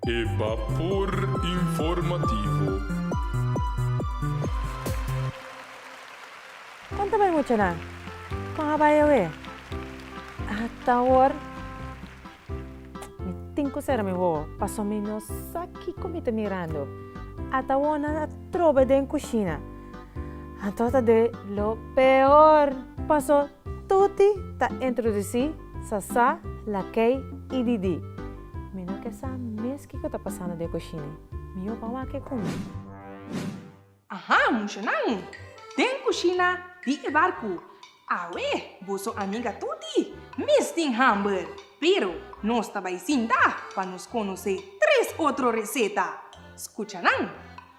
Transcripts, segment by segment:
E Bapor Informativo. Kon ta bai muchanan? Kon a bai awe? Ata awor mi tin ku sera mi wowo pasobra mi no sa kiko mi ta mirando. Ata awor nan a trobe den kushina. Anto ta dor lo peor pasobra tuti ta introdusí. Sasa, Lakei i Didi. Mi no ke sa mes kiko ta pasando den kushini. Mi opa wak e kumi. Aha, mushonan! Den kushina di e barku. Awe, boso amiga tuti mes tin hamber. Pero nos ta bai sinta pa nos konosé tres otro reseta. Skucha nan.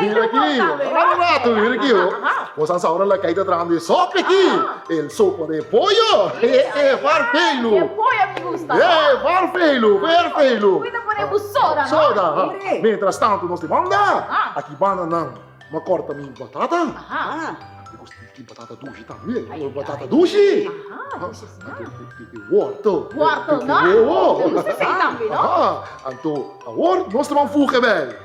Bira aki, ora rato bira aki ho. Bo sa saura la kai ta traha di e sope aki, el sopa de poyo, he he var feilu. E poyo mi gusta. He he var feilu, ver feilu. Bo ta pone bu soda no. Soda ha. Mientras tanto nos di banda, aki banda nan ma corta mi batata, mi gusta di ki batata dushi tambe, batata dushi, wortel, wortel no, mi gusta si tambe no. Anto awor nos ta ban fuga bay.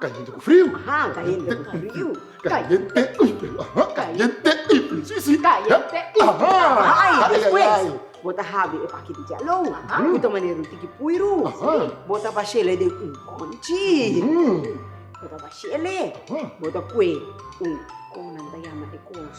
Caliente cu frio. Ahaa, caliente cu frio. Caliente y frio, ahaa, caliente y frio, si, si. Caliente y frio, ahaa, y despues bo ta habi e paki di jèlou, bo ta manera un tiki puiru, bo ta bash'el'e den un kònchi, bo ta bash'el'e, bo ta pue un, komo nan ta yama e kos,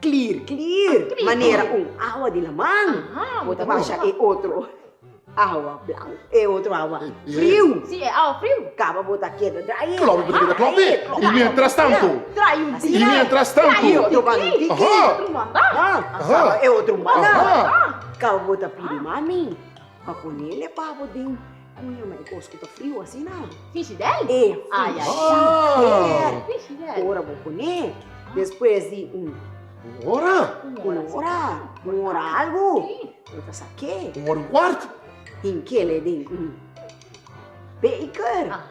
Clear clear manera un awa di laman bo ta basha e otro awa blanco e otro awa friu caba bo ta keda drai e bo ta keda clompi y mientras tanto y mientras tanto y otro bando tiki caba e otro manda caba bo ta pidi mami pa ponele pa bo den Oye, ma e kos ku ta friu asina? Frijidel? E, frijidel. Ora bo pon'é despues di un. Un ora? Un ora, un ora algu. Bo ta sa ke? Un ora i un kuart. Tin kele den un beker.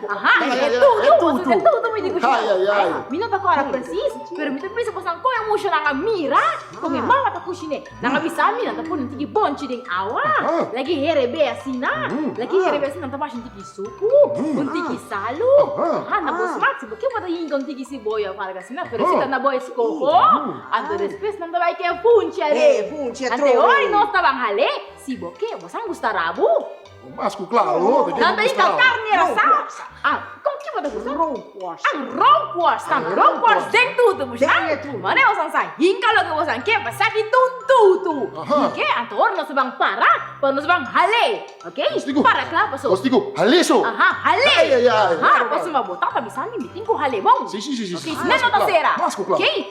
Aha, e tutu, e tutu mi di ku shon. Mi no ta kora presis, pero mi ta pensa boso a kon e mushonan a mira kon e mama ta kushiné. Nan a bisa mi nan ta pone un tiki bonchi den awa, laki herebe asina, laki herebe asina nan ta basha un tiki suku, un tiki salu, aha, na bo smak si bo ke bo ta yinka un tiki siboya of algu asina, pero si ta na bo eskoho, anto despues nan ta bai ke funchi a rei. Ante hoy nos taban hal'é, si bo ke bo sa gusta rabu. Mas ku klaro. Nan ta yika karni asá? Kon kiba ta kusa? Rookworst. Ah, rookworst. Nan rookworst den tutu bush. Den e tutu. Mane bosan sa hinka loke bosan ke pa sa di tun tutu. Dike? Anto ora nos ban para, pa nos ban hal'é. Ok? Para kla paso. Nos tin ku hal'é so. Aha, hal'é. Ai ai ai. Aha, paso ma bo tata bisa mi tin ku hal'é bon. Si si si si. Ok, si nan no ta sera. Mas ku kla. Ok.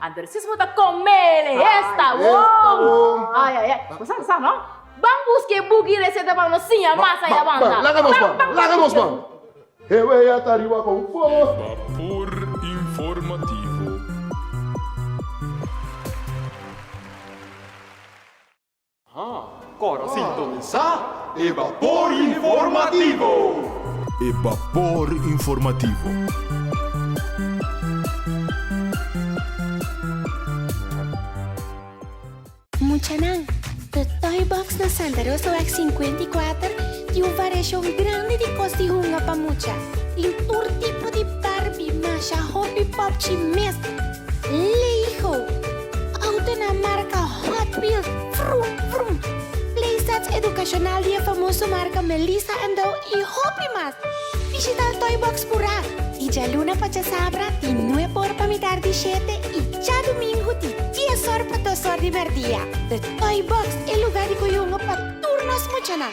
Adresis bo ta comele esta won. Ay ay ay. Bo sa sa no? Ban busca e book y receta pa nos siña mas aya banda. Ban, laga nos ban, laga nos ban. E wei a ta riba con bo. Vapor Informativo. Kòrda sintonisá e Bapor Informativo! E Bapor Informativo. Muchanan, The Toy Box na Santa Rosaweg sinkuenta i kuater tin un variashon grandi di kos di hunga pa mucha. Tin tur tipo di Barbie, masha, hopi, popchi, mes, Lego. Autonan marka Hot Wheels, vroom vroom, playsets edukashonal di e famoso marka Melissa and Dow i hopi mas! Bishita el Toy Box Purá di djaluna pa djasabra di nuep or pa mitar di shete i djadumingu di dies or pa dos or di merdia. The Toy Box e lugá di koyungu pa tur nos muchanan!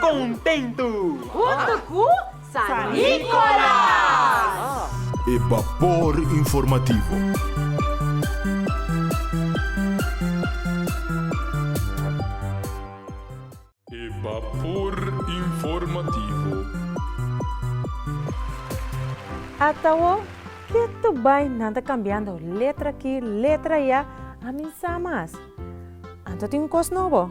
Kontentu! Huntu ku San Nikolas! E Bapor Informativo. E Bapor Informativo. Atawò, ke tur bai nan ta kambiando letra aki, letra ya, a minsá mas. Anto tin un kos nobo?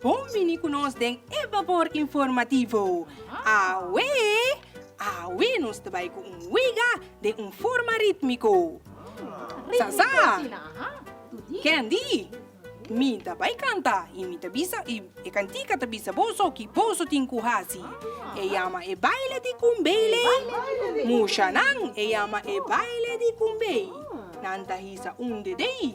Bon bini ku nos den e Babor Informativo. Awe! Awe nos ta bai ku un wega den un forma rítmiko. Sa sa! Candy, mi ta bai kanta i mi ta bisa i e kantika ta bisa boso ki boso tin ku hasi. E yama e baile di kumbei. Mushanan e yama e baile di kumbei. Nan ta hisa un dedei.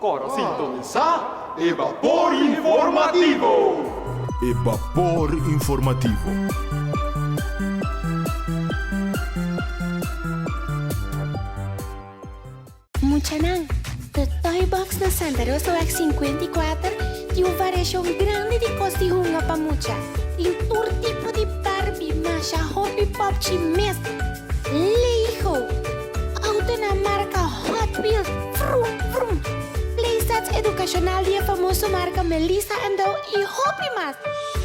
Kòrda sintonisá e Bapor Informativo! E Bapor Informativo. Muchanan, The Toy Box na Santa Rosa Wèk sinkuenta i kuater tin un variashon grandi di kos di hunga pa mucha. Tin tur tipo di Barbie, masha, hopi, popchi, mes. Lei gou! Autonan marka Hot Wheels, vroom vroom! Playsets educacional di e famoso marka Melissa and Dow y hopi mas!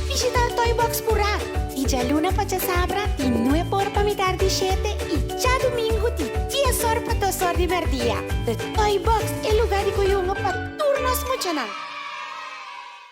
Bishita Toy Box Pura di djaluna pa djasabra di nue por pa mitar di shete y djadumingu di dies or pa dos or di merdia. The Toy Box e luga di koyungo pa tur nos muchanan!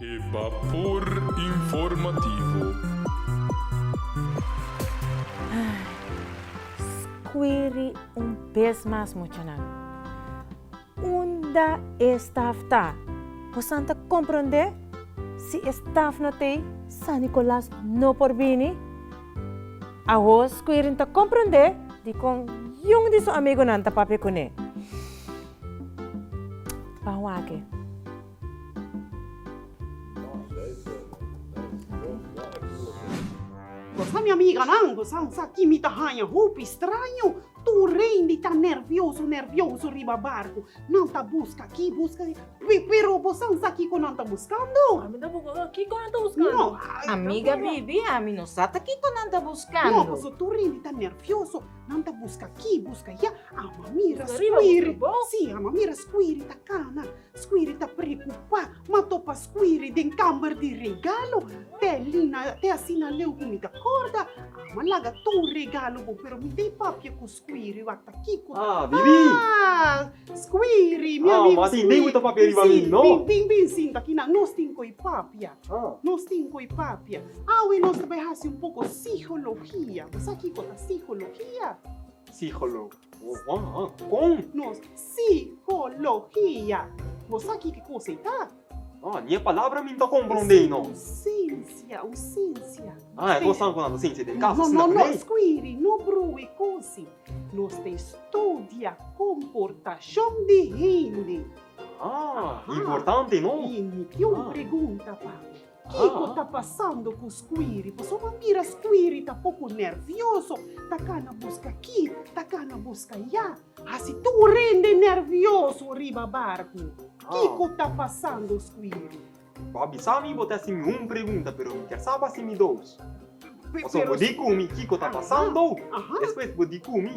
E Bapor Informativo. Scuiri un bez mas muchanan. Unda e staf ta? Bosan ta compronde si e staf no t'ei San Nicolas no por bini? Awor Scuiri ta compronde dicon yun di su amigunan ta papia cune. Pan wak e. Gosa mi amiganan, gosan sa ki mi ta haña hopi straño. Tur rendi ta nervioso nervioso riba barku. Nan ta buska aki, buska aki. Pe, pero bosan sa kiko nan ta buskando? Ami ta buska sa kiko nan ta buskando. No, a. Amiga Bibi, ami no sa ta kiko nan ta buskando. No, paso tur rendi ta nervioso. Nan ta buska aki, buska ya. Ama mira skuiri. Buska riba, buska bo. Si, ama mira skuiri ta kana. Squiri ta preocupa ma topa Squiri den camber di regalo te Lina te asina leu cu mi ta corda ama laga tur regalo bo pero mi ta y papia cu Squiri wata kico Ah Bibi Ah Squiri mi amigo Squiri Ah ma tin tin cu ta papia riba mi no Si tin tin sinta aki nan nos tin cu y papia Ah nos tin cu y papia awe nos ta bay haci un poco sihologia bo sa kico ta sihologia? Sihologia. Waww, kon? Nos psikologia. Bo sa ki ki kosa ei ta? Ah, ni e palabra mi nta komprondé ei no. Es un sensia, un sensia. Ah, e kos nan ku nan ta sensia den kasa, asina ku lei? Skwiri, no brui kosi. Nos ta estudia komportashon di hende. Ah, importante no? I mi tin un pregunta pa bo. Kiko ta pasando ku Squiri? Paso bo a mira Squiri ta poko nervioso, ta kana buska aki, ta kana buska ya. Hasi tur hende nervioso riba barku. Kiko ta pasando Squiri? Bo a bisa mi bo ta hasi mi un pregunta, pero mi kier sa bo hasi mi dos. Paso bo di ku mi kiko ta pasando, despues bo di ku mi.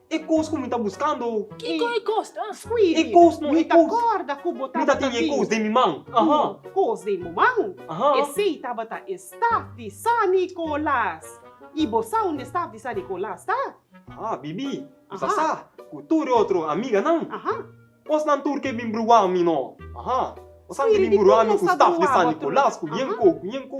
E kos ku mi ta buskando. Kiko e kos? Skuidi. E kos no e kos. Mi ta kòrda ku bo tabata tin. Mi tin e kos den mi man. Aha. Un kos den bo man. Aha. Esei tabata e staf di San Nikolas. I bo sa unda e staf di San Nikolas ta? Aha, Bibi. Bo sa sa ku tur e otro amiganan. Aha. Kos nan tur ke bin bruwa mi no. Aha. Bo san ke bin bruwa mi ku staf di San Nikolas, ku yenko, ku yenko.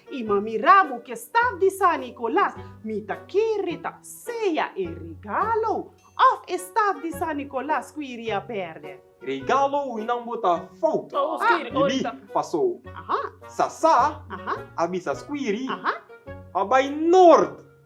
I ma mira bo ke staf di San Nicolas, mi ta kere ta sea e regalo of e staf di San Nicolas ku i ria perde. Regalo winan bo ta fout. Bibi, Paso Sasa a bisa Squiri pa bai Nord.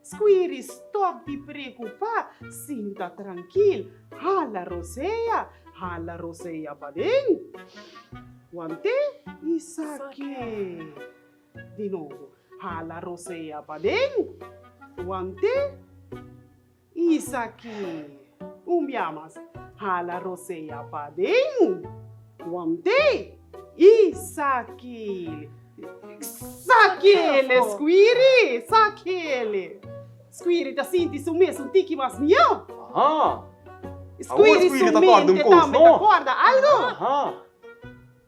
Squiri stop di preocupa, sinta trankil, hala rosea, hala rosea paden. Wante isaki di nobo, hala rosea paden, wante isaki. Un bia mas, hala Rosea paden wan té i sakele. Sakele Squiri! Sakele! Squiri ta sinti su mes un tiki mas mió. Squiri su mente tambe ta kòrda algu.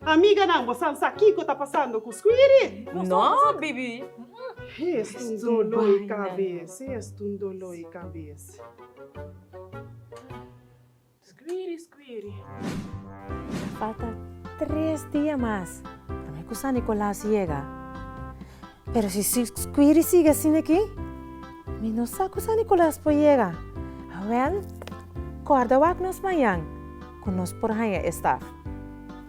Amiganan, bo san sa kiko ta pasando ku Squiri? No, bibi. Es un doló i kabes, es un doló i kabes. Squiri, Squiri. Falta tres dia mas, tambe ku San Nicolas yega. Pero si Squirty sigui asina aki, mi no sa ku San Nikolas por yega. Awèl, kòrda wak nos mañan ku nos por haña e staf.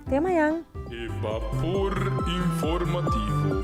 Te mañan! E Vapor Informativo.